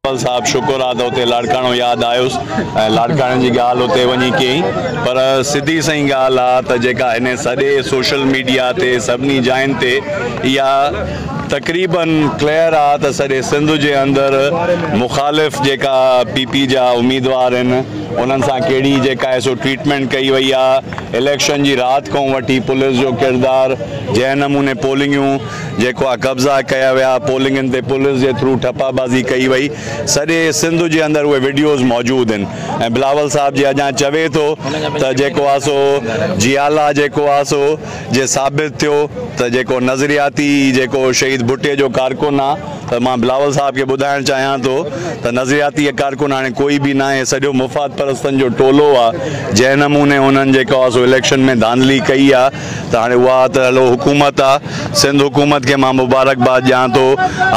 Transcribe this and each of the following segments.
پل صاحب شڪر آ ته اتي لاڙڪاڻو ياد آيس ۽ لاڙڪاڻي جي ڳالهه اتي وڃي ڪيئي پر سڌي سئي ڳالهه آ ته جيڪا هن سڄي سوشل ميڊيا تي سڀني جاين تي اها تقريباً ڪليئر آ ته سڄي سنڌ جي اندر مخالف جيڪا پي پي جا اميدوار هن انهن سان ڪهڙي جيڪا هي سو ٽريٽمينٽ ڪئي وئي آ اليڪشن جي رات کان وٺي پوليس جو ڪردار جنهن نموني پولنگيون جيڪا قبضا ڪيا ويا، پولنگن تي پوليس جي ٿرو ٺپا بازي ڪئي وئي، سڄي سنڌ جي اندر اهي وڊيوز موجود آهن ۽ بلاول صاحب جي اڄان چوي ٿو ته جيڪو آ سو جيالا جيڪو آ سو جي ثابت ٿيو ته جيڪو نظرياتي جيڪو شهيد ڀٽي جو ڪارڪن آ ته مان بلاول صاحب کي ٻڌائڻ چاهيان ٿو ته نظرياتي ڪارڪن هاڻي ڪوئي به ناهي سڄو مفاد پرستن جو ٽولو آ جنهن نموني انهن جيڪو آ سو اليڪشن ۾ ڌانڌلي ڪئي آ ته هاڻي اها ته هلو حڪومت آ سنڌ حڪومت کي مان مبارڪ باد ڏيان ٿو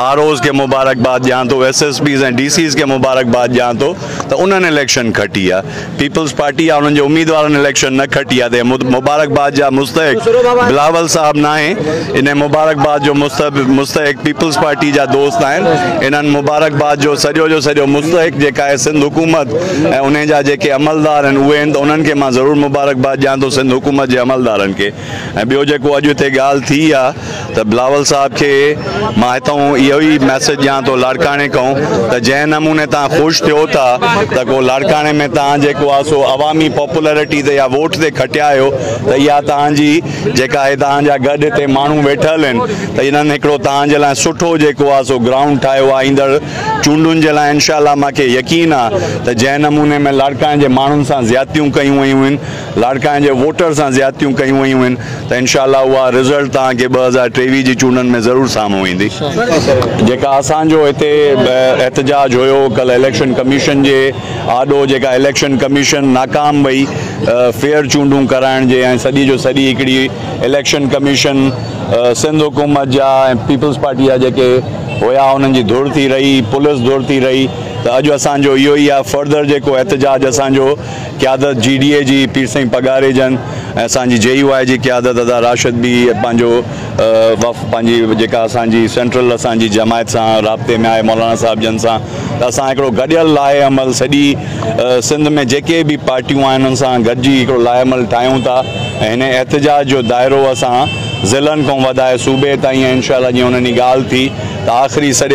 آر اوز کي مبارڪ باد ڏيان ٿو S S Ps ۽ D Cs کي مبارڪ باد ڏيان ٿو ته انهن اليڪشن کٽي آ پيپلز پارٽي آ انهن جي اميدوارن اليڪشن نه کٽي آ ته اهي مبارڪ باد جا مستحق بلاول صاحب ناهي انهي مبارڪ باد جو مستحق پيپلز پارٽي جا دوست آهن انهن مبارڪ باد جو سڄو جو سڄو مستحق جيڪا آهي سنڌ حڪومت ۽ انهن جا جيڪي عملدار آهن اهي آهن ته انهن کي مان ضرور مبارڪباد ڏيان ٿو سنڌ حڪومت جي عملدارن کي ۽ ٻيو جيڪو اڄ هتي ڳالهه ٿي آ ته بلاول صاحب کي مان هتئون اهو ئي ميسيج ڏيان ٿو لاڙڪاڻي کئون ته جنهن نموني تهان خوش ٿيو ٿا ته ڪو لاڙڪاڻي ۾ تهان جيڪو آ سو عوامي پاپولرٽي تي يا ووٽ تي کٽيا آهيو ته اها تهان جي جيڪا هي تهان جا گڏ هتي ماڻهو ويٺل آهن ته انهن هڪڙو تهان جي لاء سٺو جيڪو آ سو گرائونڊ ٺاهيو آ ايندڙ چونڊن جي لاء انشاء الله مان کي يقين آ ته جنهن نموني ۾ لاڙڪاڻي جي ماڻهن سان زيادتيون ڪيون ويون هين لاڙڪاڻي جي ووٽر سان زيادتيون ڪيون ويون هين ته انشاء الله اها رزلٽ توهان کي ٻه هزار ٽيويهه جي چونڊن ۾ ضرور سامهون ايندي جيڪا اسان جو هتي احتجاج هيو ڪل اليڪشن ڪميشن جي آڏو جيڪا اليڪشن ڪميشن ناڪام وئي فيئر چونڊون ڪرائڻ جي ۽ سڄي جو سڄي هڪڙي اليڪشن ڪميشن سنڌ حڪومت جا ۽ پيپلز پارٽي جا جيڪي هيا انهن جي ڌر ٿي رهي پولس ڌر ٿي رهي ته اڄ اسان جو اهو ئي آهي فرڌر جيڪو احتجاج اسان جو قيادت جي ڊي اي جي پير سائين پگهاري جن ۽ اسان جي جي يو آء جي قيادت ادا راشد به پنهنجو وف پنهنجي جيڪا اسان جي سينٽرل اسان جي جماعت سان رابطي ۾ آهي مولانا صاحب جن سان ته اسان هڪڙو گڏيل لاهي عمل سڄي سنڌ ۾ جيڪي به پارٽيون آهن انهن سان گڏجي هڪڙو لاهي عمل ٺاهيون ٿا ۽ هن احتجاج جو دائرو اسان ضلعن کان وڌائي صوبي تائين ۽ انشاء الله جيئن انهن جي ڳالهه ٿي ته آخري سڄي